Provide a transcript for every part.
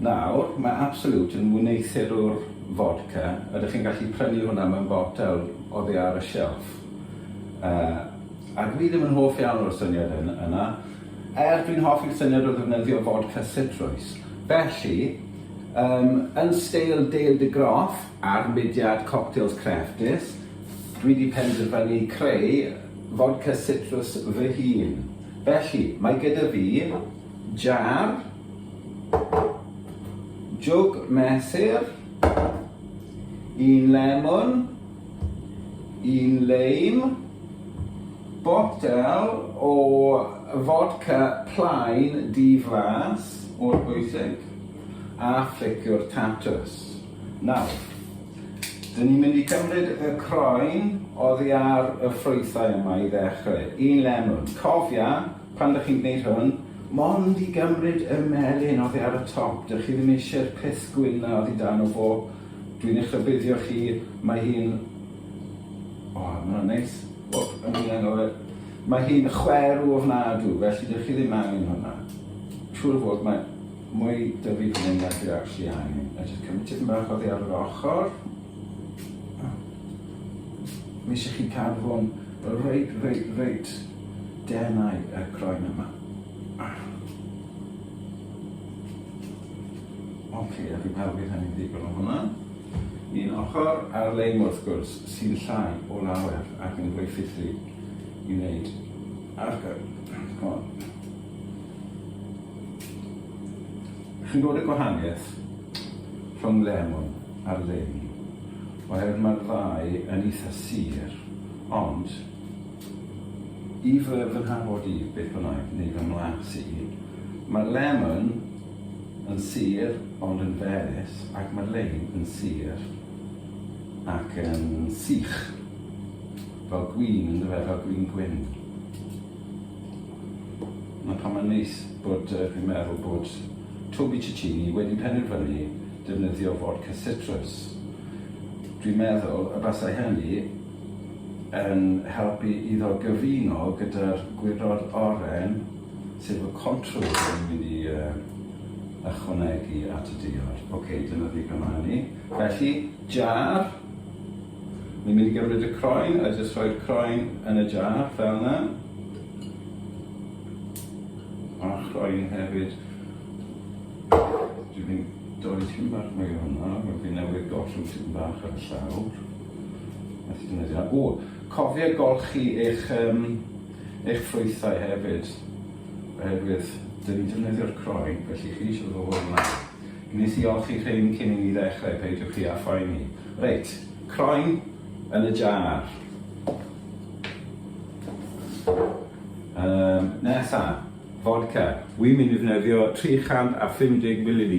Nawr, mae Absolut yn wneuthurwr fodca, ydych chi'n gallu prynu hwnna mewn botel oddi ar y shelf. Yy, a dwi ddim yn hoff iawn o'r syniad yn, yna, er dwi'n hoffi'r syniad o ddefnyddio fodca sitrwys. Felly, yym, yn steil Dale de Groff a'r mudiad Cocktails Crefftus, dwi 'di penderfynu creu fodca sitrws fy hun. Felly, mae gyda fi Jar. Jwg mesur. Un lemon. Un leim. Botel o fodca plaen di-flas o'r bwysig a phliciwr tatws. Nawr, dyn ni'n mynd i cymryd y croen oddi ar y ffrwythau yma i ddechrau. Un lemon. Cofia, Pan dych chi'n gwneud hwn, mond i gymryd y melyn oddi ar y top, dych chi ddim eisiau'r clust gwyn 'na oddi dan y bo. Dwi'n eich rhybuddio chi, mae hi'n... O, mae hwnna'n neis. O, o'n i'n anghofio. Mae hi'n chwerw ofnadw, felly dych chi ddim angen hwnna. Siŵr o fod, mae mwy dyfu fan hyn na dwi actually angen. A jyst cymryd tipyn bach oddi ar yr ochr. Mae eisiau chi cadw fo'n reit, reit, reit Denau y croen yma. Ah. Ok, a fi'n meddwl bydd hynny'n ddigon o hwnna. Un ochr ar lein wrth gwrs sy'n llai o lawer ac yn fwy ffithri i wneud ar hon. Chi'n gwybod y gwahaniaeth rhwng lemon a'r lein? Oherwydd mae'r ddau yn eitha sir, ond I fy fynhad-fod i, beth bynnag, neu fy mhlas i, mae Lemon yn sir ond yn ferus ac mae Lein yn sir ac yn sych. Fel gwin, yn dyfe, fel gwin gwyn. Na pan mae'n neis bod uh, fi'n meddwl bod Toby Cicchini wedi penderfynu defnyddio fodca citrus. Dwi'n meddwl y basau hynny yn helpu iddo gyfuno gyda'r Gwydod Oren, sef y contour dwi'n mynd i uh, ychwanegu at y diod. Oce, okay, dyna ddigon o hynny. Felly, jar. Ni'n mynd i gymryd y croen a jyst rhoi'r croen yn y jar, fel yna. A'r croen hefyd. Dwi'n mynd doi tîm bach mwy o hwnna, mae fi newydd gollwng tîm bach ar y llawr. O, cofia golchi eich um, eich ffrwythau hefyd, oherwydd dyn ni'n defnyddio'r croen, felly chi eisiau fod o'r yma. Gwnes i olchi rhain cyn i ni ddechrau, peidiwch chi a phoeni. Reit, croen yn y jar. Um, nesa, fodca. Wy'n mynd i ddefnyddio 350 ml.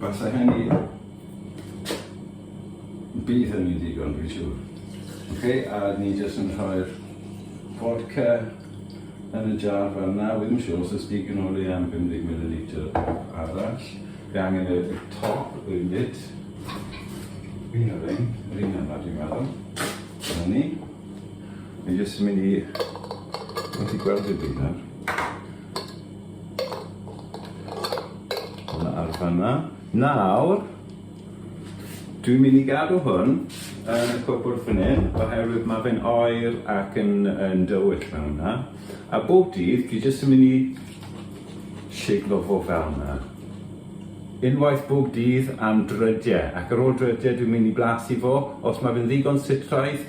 Byddai hynny... bydd hynny'n ddigon dwi'n siŵr. Ok, a ni jyst yn rhoi'r fodca yn y jar fel yna, wi ddim yn siŵr os oes digon o le am 50 millilitr arall. Fi angen y top y lid. Fi'n y rein, yr un yna dwi'n meddwl. Dyna ni. Fi jyst yn mynd i... Fi wedi gweld dim byd nawr. Hwnna ar fanna. Nawr, dwi'n mynd i gadw hwn yn y cwpwrdd fan hyn, oherwydd mae fe'n oer ac yn, yn dywyll fel yna. A bob dydd, fi jyst yn mynd i siglo fo fel yna. Unwaith bob dydd am drydiau, ac ar ôl drydiau dwi'n mynd i blasu fo, os mae fe'n ddigon sitraidd,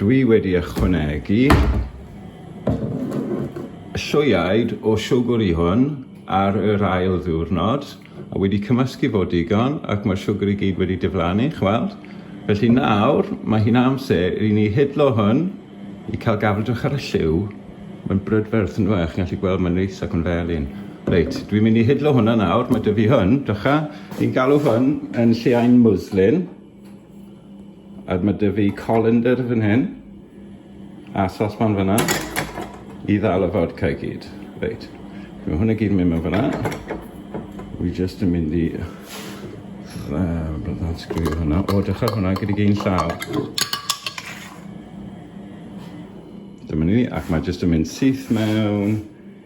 Dwi wedi ychwanegu llwyaid o siwgr i hwn ar yr ail ddiwrnod a wedi cymysgu fo digon ac mae'r siwgr i gyd wedi diflannu, chi'n weld? Felly nawr mae hi'n amser i ni hidlo hwn i cael gafael, dwch ar y lliw, mae'n brydferth yn dyw e, chi'n gallu gweld mae'n neis ac yn felyn. Reit, dwi'n mynd i hidlo hwnna nawr, mae 'da fi hwn, dwcha, ni'n galw hwn yn lleaen mwslin. A mae dy fi colander fan hyn. A sospan fyna. I ddal y fodca i gyd. Reit. Mae hwnna gyd yn mynd mewn fyna. Wi just yn mynd i... Uh, byddai'n sgwio hwnna. O, dechrau hwnna gyda gyn llaw. Dyma ni, ac mae jyst yn mynd syth mewn.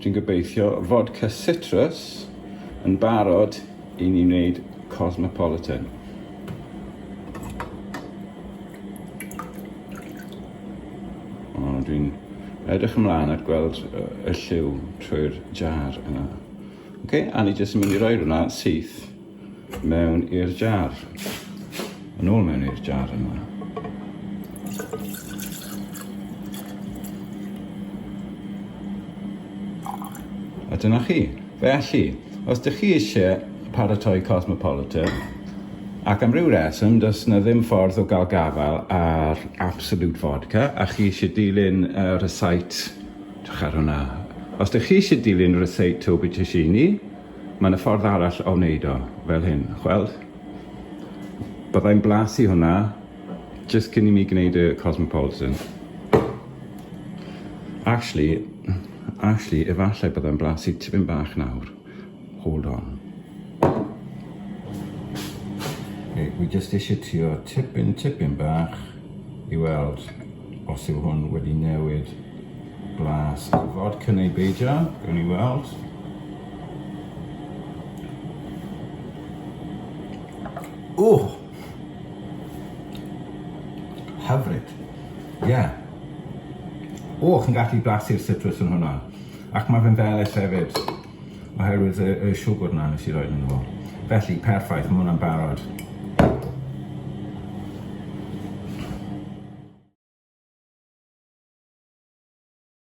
Dwi'n gobeithio fod Cysitrus yn barod i ni wneud Cosmopolitan. dwi'n edrych ymlaen at gweld y lliw trwy'r jar yna. Oce, okay, a ni jyst yn mynd i roi hwnna syth Mewn i'r jar. Yn ôl mewn i'r jar yma. A dyna chi. Felly, os ydych chi eisiau paratoi Cosmopolitan, ac am ryw reswm, does yna ddim ffordd o gael gafael ar Absolute Vodka, a chi eisiau dilyn y uh, recite, dych ar hwnna, os ydych chi eisiau dilyn y recite Toby Tishini, Mae 'na ffordd arall o wneud o, fel hyn, chweld? Byddai'n blasu hwnna jyst cyn i mi gwneud y Cosmopolitan. Actually, actually, efallai byddai'n blasu tipyn bach nawr. Hold on. Okay, wi jyst eisiau trio tipyn, tipyn bach. i weld os yw hwn wedi newid blas y fod cyn ei beidio, gawn ni weld. Ww! Hyfryd. Ie. Yeah. O, chi'n gallu blasu'r citrus yn hwnna. Ac mae fe'n felyll hefyd. Oherwydd y, y siwgr na nes i roed ynddo fo. Felly, perffaith, mae hwnna'n barod.